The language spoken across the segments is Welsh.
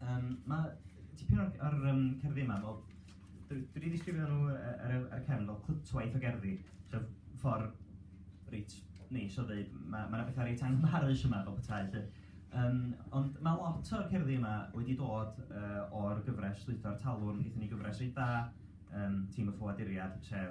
Um, mae tipyn o'r, or, um, cerddi yma, fel, dwi wedi ddisgrifio nhw ar, y, ar y cefn fel clytwaith o gerddi, so ffordd reit neis o ddweud, mae yna ma bethau reit anghyfarus yma fel petai. Lle. Um, ond mae lot o'r cerddi yma wedi dod uh, o'r gyfres Lwytho'r Talwrn, gyda ni gyfres reit dda, um, tîm y ffoaduriad, sef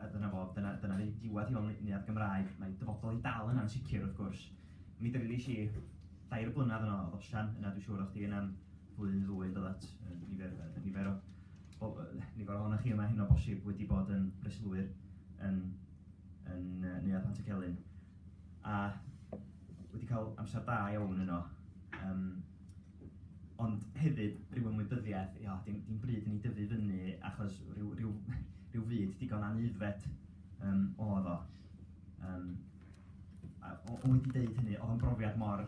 A dyna fo, dyna dyna ni, diwedd i olyniad Gymraeg, mae dyfodol i dal yn ansicr wrth gwrs. Mi dreulies i dair blynadd yno oedd osian, yna dwi'n siŵr o'ch chi yna'n flwyddyn ddwy yn dod nifer, nifer o o, nifer ohonoch chi yma hyn o bosib wedi bod yn breslwyr yn, yn uh, Neuadd Pant y Celyn. A wedi cael amser da iawn yno. Um, ond hefyd rhyw ymwybyddiaeth, ia, dim, dim bryd i ni dyfu fyny achos rhyw, rhyw, rhyw fyd digon anuddfed um, o ddo. Um, a, o, o wedi deud hynny, oedd yn brofiad mor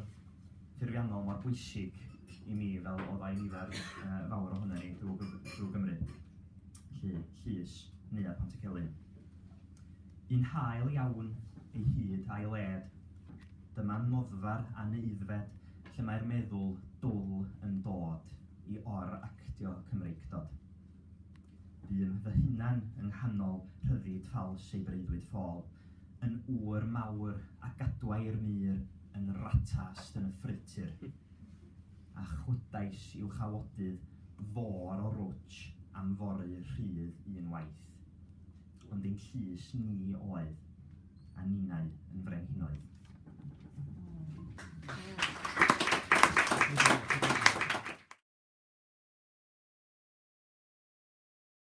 ffurfiannol, mor bwysig i mi fel oedd oddai nifer uh, fawr ohono ni drwy, drwy Gymru. Lly, Llys, neu a Pont y Celyn. Yn hael iawn ei hyd a'i led, dyma noddfa'r anuddfed lle mae'r meddwl dwl yn dod i or-actio Cymreictod. Bûm fy hunan yng nghanol rhyddid ffals ei breuddwyd ffôl, yn ŵr mawr a gadwai'r mur yn ratast yn y ffreutur, a chwydais i'w chawodydd fôr o rwtsh am foru rhydd un waith. Ond ein llys ni oedd. a ninnau yn frenhinoedd.